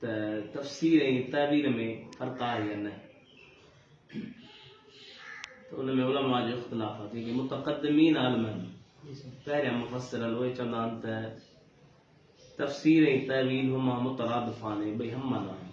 ته تفسير ۽ تعبير ۾ فرق آهي يا نه؟ ته ان ۾ علماء جو اختلاف آهي، جنهن کي متقدمين عالمن، پهريان مفسرن، اهي چوندا آهن ته تفسير ۽ تعبير هما مترادفان ۽ ٻئي هم معنيٰ آهن.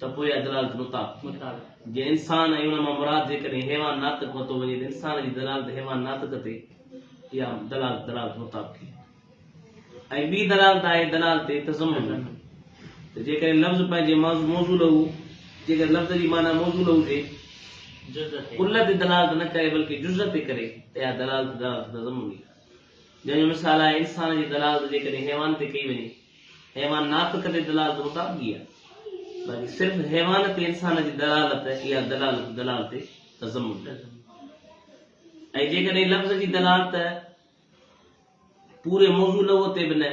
ته پوء دلالت مطابق جي انسان ۽ ان مان مراد جيڪڏهن حيوان ناطق وتو وڃي ته انسان جي دلالت حيوان ناطق تي اها دلالت دلالت مطابق هي ۽ ٻي دلالت آهي دلالت تضمن ته جيڪڏهن لفظ پنهنجي موضوع له جيڪڏهن لفظ جي معنيٰ موضوع له جي ڪل تي دلالت نه ڪري بلڪه جز تي ڪري ته اها دلالت دلالت تضمن هي جنهن جو مثال آهي انسان جي دلالت جيڪڏهن حيوان تي ڪئي وڃي حيوان ناطق تي دلالت مطابقي آهي، باقي صرف حيوان تي انسان جي دلالت اها دلالت دلالت تضمن آهي ۽ جيڪڏهن لفظ جي دلالت پوري موضوع لهو تي به نه،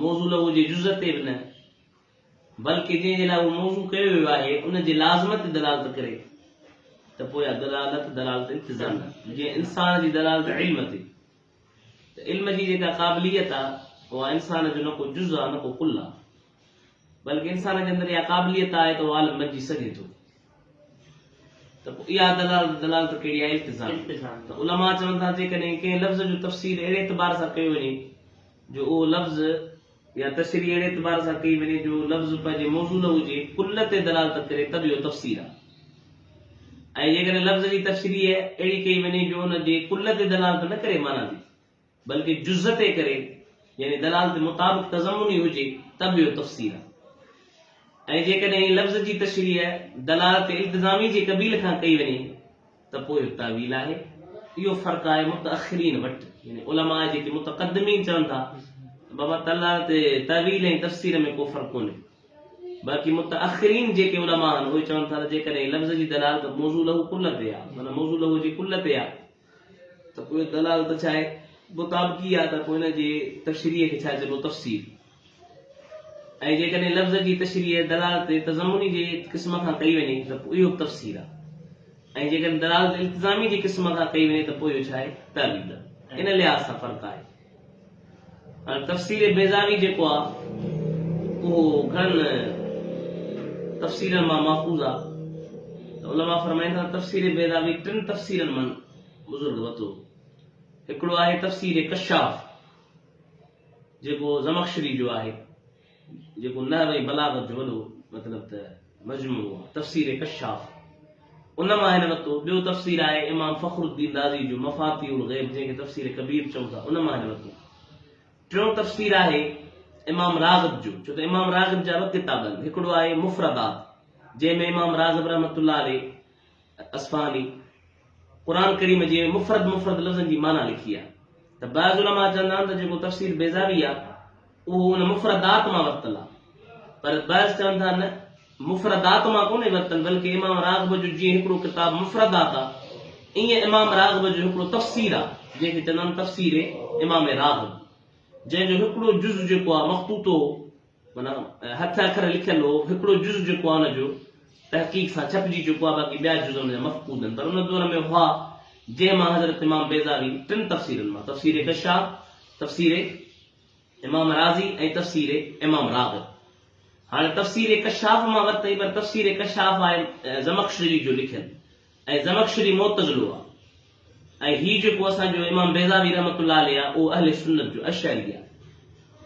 موضوع لهو جي جز تي به نه، بلڪه جنهن جي لاء اهو موضوع ڪيو ويو آهي ان جي لازمن تي دلالت ڪري ته پوء اها دلالت دلالت التزامي آهي، جيئن انسان جي دلالت علم تي. ته علم جي جيڪا قابليت آ اها انسان جو نه ڪو جز آ نه ڪو ڪل آ بلڪ انسان جي اندر اها قابليت آهي ته اهو عالم بنجي سگهي ٿو ته پوء اها دلالت دلالت ڪهڙي آهي التزام ته علماء چون ٿا جيڪڏهن ڪنهن لفظ جو تفسير اهڙي اعتبار سان ڪيو وڃي جو اهو لفظ يا تشريح اهڙي اعتبار سان ڪئي وڃي جو لفظ پنهنجي موصوله هجي، ڪل تي دلالت ڪري ته به اهو تفسير آهي ۽ جيڪڏهن لفظ جي تشريح اهڙي ڪئي وڃي جو ان جي ڪل تي دلالت نه ڪري معنيٰ تي بلڪه جز تي ڪري يعني دلالت مطابق تضمني هجي ته به اهو تفسير آهي ۽ جيڪڏهن لفظ جي تشريح دلالت التزامي جي قبيل کان ڪئي وڃي ته پوء تاويل آهي. اهو فرق آهي متاخرين وٽ يعني علماء جيڪي متقدمين چون ٿا ته بابا تعاليٰ تي تاويل ۽ تفسير ۾ ڪو فرق ڪونهي باقي متاخرين جيڪي علماء آهن اهي چون ٿا ته جيڪڏهن لفظ جي دلالت موضوع له ڪل تي آهي معنيٰ موضوع له جي ڪل تي آهي ته پوء دلالت ڇا آهي مطابقي آهي ته پوء ان جي تشريح کي ڇا چئبو تفسير. ۽ جيڪڏهن لفظ جي تشريح دلالت تضمني جي قسم کان ڪئي وڃي ته پوء اهو به تفسير آهي ۽ جيڪڏهن دلالت التزامي جي قسم کان ڪئي وڃي ته پوء اهو ڇا آهي؟ تاويل آهي. ان لحاظ سان فرق آهي. هاڻي تفسير بيضاوي جيڪو آهي اهو گهڻن تفسيرن مان ماخوذ آهي ته علماء فرمائين ٿا ته تفسير بيضاوي ٽن تفسيرن مان بزرگ وتو هو. هڪڙو آهي تفسير ڪشاف. جيڪو زمخشري جو آهي، جيڪو نحو ۽ بلاغت جو وڏو مطلب ته مجموعو آهي، تفسير ڪشاف ان مان هن ورتو، ٻيو تفسير آهي امام فخر الدين رازي جو مفاتيح الغيب جنهن کي تفسير ڪبير چئون ٿا ان مان هن ورتو، ٽيون تفسير آهي امام راغب جو ڇو ته امام راغب جا ٻه ڪتاب آهن، هڪڙو آهي مفردات جنهن ۾ امام راغب رحمة الله عليه اصفهاني قرآن ڪريم جي مفرد مفرد لفظن جي معنيٰ لکي آهي ته بعض علماء چوندا آهن ته جيڪو تفسير بيضاوي آهي اهو ان مفردات مان ورتل آهي پر بعض چون ٿا نه مفردات مان ڪونهي ورتل بلڪه امام راغب جو جيئن هڪڙو ڪتاب مفردات آهي ائين امام راغب جو هڪڙو تفسير آهي جنهن کي چوندا آهن تفسير امام راغب جنهن جو هڪڙو جز جيڪو آهي مخطوطو معنيٰ ۽ هٿ اکر لکيل هو، هڪڙو جز جيڪو آهي ان جو تحقيق سان ڇپجي چڪو آهي باقي ٻيا جز ان جا مفقود آهن پر ان دور ۾ هئا جنهن مان حضرت امام بيضاوي ٽن تفسيرن مان تفسير ڪشاف، تفسير امام رازي ۽ تفسير امام راغب هاڻي تفسير ڪشاف مان ورتئي پر تفسير ڪشاف آهي زمخشري جو لکيل ۽ زمخشري معتزلو آ ۽ هي جيڪو اسان جو امام بيضاوي رحمة الله عليه آ اهو اهل سنت جو اشعري آ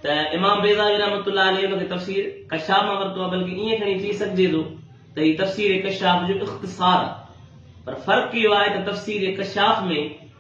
ته امام بيضاوي رحمة الله عليه ان کي تفسير ڪشاف مان ورتو آ بلڪه ائين کڻي چئي سگهجي ٿو ته هي تفسير ڪشاف جو اختصار آ پر فرق اهو آهي ته تفسير ڪشاف ۾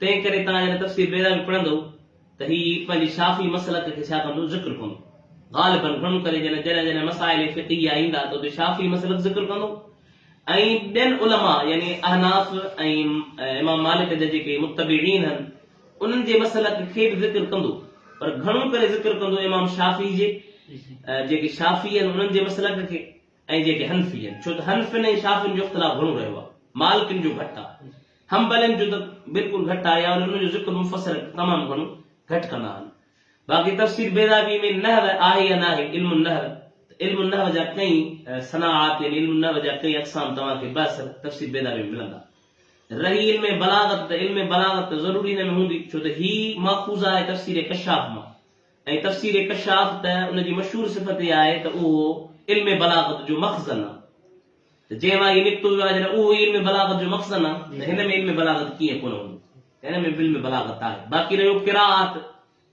تنهن ڪري توهان جڏهن تفسير بيضاوي پڙهندؤ ته هي پنهنجي شافعي مسلڪ کي ڇا ڪندو ذڪر ڪندو. غالباً گهڻو ڪري جڏهن جڏهن جڏهن مسائل فقهيه ايندا ته اتي شافعي مسلڪ ذڪر ڪندو ۽ ٻين علماء يعني احناف ۽ امام مالڪ جا جيڪي متبعين هن انهن جي مسلڪ کي به ذڪر ڪندو پر گهڻو ڪري ذڪر ڪندو امام شافعي جي جيڪي شافعي هن انهن جي مسلڪ کي ۽ جيڪي حنفي هن ڇو ته حنفين ۽ شافعين جو اختلاف گهڻو رهيو آهي مالڪين جو گهٽ آهي. حنبلين جون ته بلڪل گهٽ آيا آهن انهن جو ذڪر مفسر تمام گهڻو گهٽ ڪندا آهن باقي تفسير بيضاوي ۾ نحو آهي يا ناهي علم النحو ته علم النحو جا ڪئين صناعات يعني علم النحو جا ڪئين اقسام توهان کي بحثر تفسير بيضاوي ۾ ملندا رهي علم بلاغت ته علم بلاغت ته ضروري ان ۾ هوندي ڇو ته هي ماخوذ آهي تفسير ڪشاف مان ۽ تفسير ڪشاف ته ان جي مشهور صفت اها آهي ته اهو علم بلاغت جو مخزن آهي ته جنهن مان هي نڪتو ويو آهي جڏهن اهو ئي علم بلاغت جو مخزن آهي ته هن ۾ علم بلاغت ڪيئن ڪونه هوندو ته هن ۾ به علم بلاغت آهي باقي رهيو قرائات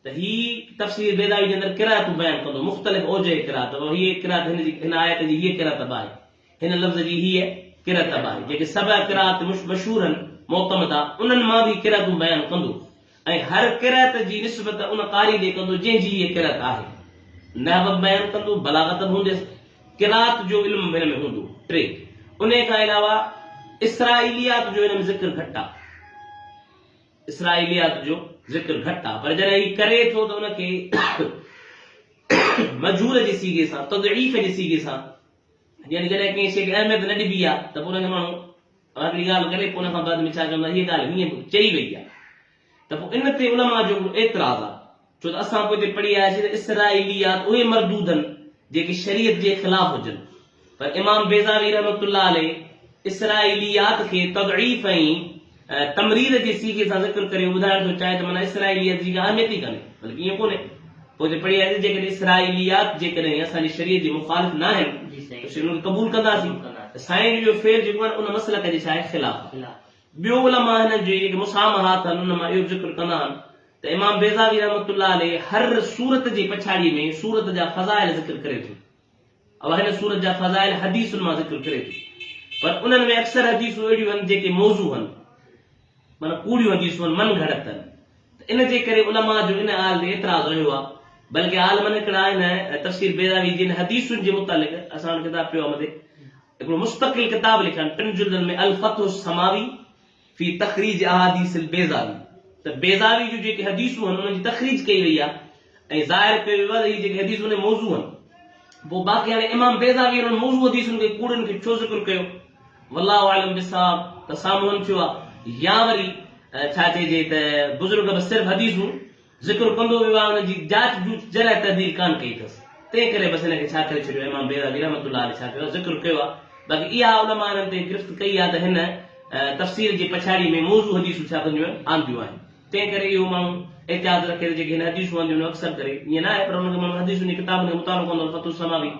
ته هي تفسير بيضاوي جي اندر قرائتون بيان ڪندو مختلف اوجه قرائت ته هيء قرائت هن جي هن آيت جي هيء قرئت به آهي هن لفظ جي هيء قرئت به آهي جيڪي سبع قرائت مشهور آهن معتمده انهن مان به هي قرئتون بيان ڪندو. ۽ هر قرئت جي نسبت ان قاري ڏي ڪندو جنهن جي هيء قرئت آهي. نحو به بيان ڪندو، بلاغت به هونديس، قرائت جو علم به هن ۾ هوندو. ٽي، انهيء کان علاوه اسرائيليات جو هن ۾ ذڪر گهٽ آهي. اسرائيليات جو ذڪر گهٽ آهي، پر جڏهن هي ڪري ٿو ته ان کي مجهول جي صيغي سان، تضعيف جي صيغي سان، يعني جڏهن ڪنهن شيء کي اهميت نه ڏبي آهي ته پوء ان کي ماڻهو اهڙي ڳالهه ڪڏهن ڪو نه ڪا بعد ۾ ڇا چوندا هيء ڳالهه هيئن به چئي وئي آهي ته پوء ان تي علماء جو هڪڙو اعتراض آهي ڇو ته اسان پوء تي پڙهي آياسين ته اسرائيليات اهي مردودن جيڪي شريعت جي خلاف هجن پر امام بيضاوي رحمة الله عليه اسرائيليات کي تضعيف ۽ تمرير جي صيغي سان ذڪر ڪري اهو ٻڌائڻ ٿو چاهي ته معنيٰ اسرائيليات جي ڪا اهميت ئي ڪانهي بلڪ ائين ڪونهي. پوء ته پڙهي آيو ته جيڪڏهن اسرائيليات جيڪڏهن اسان جي شريعت جي مخالف ناهن ته شريعت کي قبول ڪنداسين ته سائين جو اهو فعل جيڪو آهي نه ان مسلڪ جي ڇاهي خلاف آهي. ٻيو علماء هنن جي جيڪي مسامحات آهن ان مان اهو به ذڪر ڪندا آهن ته امام بيضاوي رحمة الله عليه هر سورت جي پڇاڙيء ۾ سورت جا فضائل ذڪر ڪري ٿو. اها هن سورت جا فضائل حديثن مان ذڪر ڪري ٿي پر انهن ۾ اڪثر حديثون اهڙيون آهن جيڪي موضوع هن معنيٰ ڪوڙيون حديثون هن من گهڙت هن ته ان جي ڪري علماء جو ان آل تي اعتراض رهيو آهي بلڪه عالمن هڪڙا آهن ۽ تفسير بيضاوي جن حديثن جي متعلق اسان وٽ ڪتاب پيو آهي مٿي هڪڙو مستقل ڪتاب لکيا آهن ٽن جلدن ۾ الفتح السماوي في تخريج احاديث البيضاوي ته بيضاوي جون جيڪي حديثون هن انهن جي تخريج ڪئي وئي آهي ۽ ظاهر پئي ويو آهي ته اهي جيڪي حديثون اهي موضوع آهن پوء باقي هاڻي امام بيضاوي انهن موضوع حديثن کي ڪوڙين کي ڇو ذڪر ڪيو والله اعلم بالصواب ته سامهون ٿيو آهي يا وري ڇا چئجي ته بزرگ به صرف حديثون ذڪر ڪندو ويو آهي ان جي جاچ جوچ جرح تحدير ڪانه ڪئي اٿس تنهن ڪري بس ان کي ڇا ڪري ڇڏيو امام بيضاوي رحمة الله عليه ڇا ڪيو آهي ذڪر ڪيو آهي باقي اها علماء انهن تي گرفت ڪئي آهي ته هن تفسير جي پڇاڙي ۾ موضوع حديثون ڇا ڪنديون آهن آنديون آهن تنهن ڪري اهو ماڻهو احتياط رکي ته جيڪي هن حديثون آنديون آهن اڪثر ڪري ائين ناهي پر ان کي ماڻهو حديثن جي ڪتابن کي مطالعو ڪندو ته فتح السماوي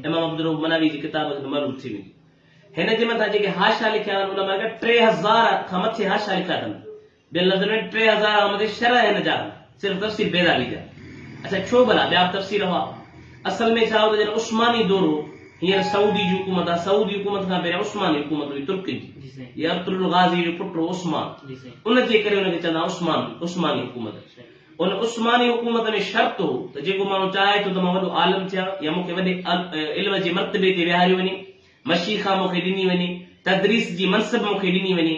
امام عبدالرؤف مناوي جي ڪتاب کي ته معلوم ٿي ويندو هن جي مٿان جيڪي حاشا لکيا آهن علماء ٽي هزار کان مٿي حاشا لکيا اٿن ٻين لفظن ۾ ٽي هزار آمدي شرح هن جا هن صرف تفسير بيضاوي جا اڇا ڇو ڀلا ٻيا به تفسير هئا اصل ۾ ڇا هو ته جڏهن عثماني دور هو هينئر سعودي جي حڪومت آ سعودي حڪومت کان پهريان عثماني حڪومت هئي ترڪن جي جي ارطر الغازي جو پٽ هو عثمان جي ان جي ڪري ان کي چوندا هئا عثمان عثماني حڪومت ان عثماني حڪومت ۾ شرط هو ته جيڪو ماڻهو چاهي ٿو ته مان وڏو عالم ٿيان يا مون کي وڏي علم جي مرتبي تي ويهاريو وڃي مشيخا مون کي ڏني وڃي تدريس جي منصب مون کي ڏني وڃي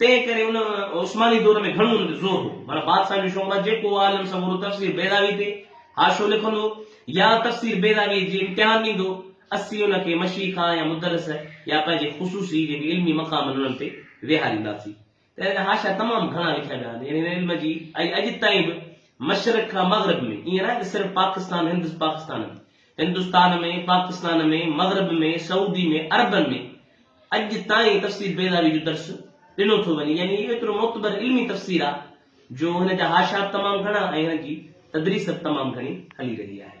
تنهن ڪري ان عثماني دور ۾ گهڻو ان تي زور هو. معنيٰ بادشاهن جو شعبه جيڪو عالم سمورو تفسير بيضاوي تي حاشو لکندو يا تفسير بيضاويء جي امتحان ڏيندو، اسين ان کي مشيخه يا مدرس يا پنهنجي خصوصي جيڪي علمي مقام آهن انهن تي ويهارينداسين. تنهن ڪري حاشا تمام گهڻا لکيا ويا آهن. يعني هن علم جي اڄ تائين به مشرق کان مغرب ۾، ائين ناهي ته صرف پاڪستان هندس پاڪستان هند، هندستان ۾، پاڪستان ۾، مغرب ۾، سعودي ۾، عربن ۾ اڄ تائين تفسير بيضاوي جو درس ڏنو ٿو وڃي، يعني اهو ايترو معتبر علمي تفسير آ جو هن جا حاشيا به تمام گهڻا ۽ هن جي تدريس به تمام گهڻي هلي رهي آهي.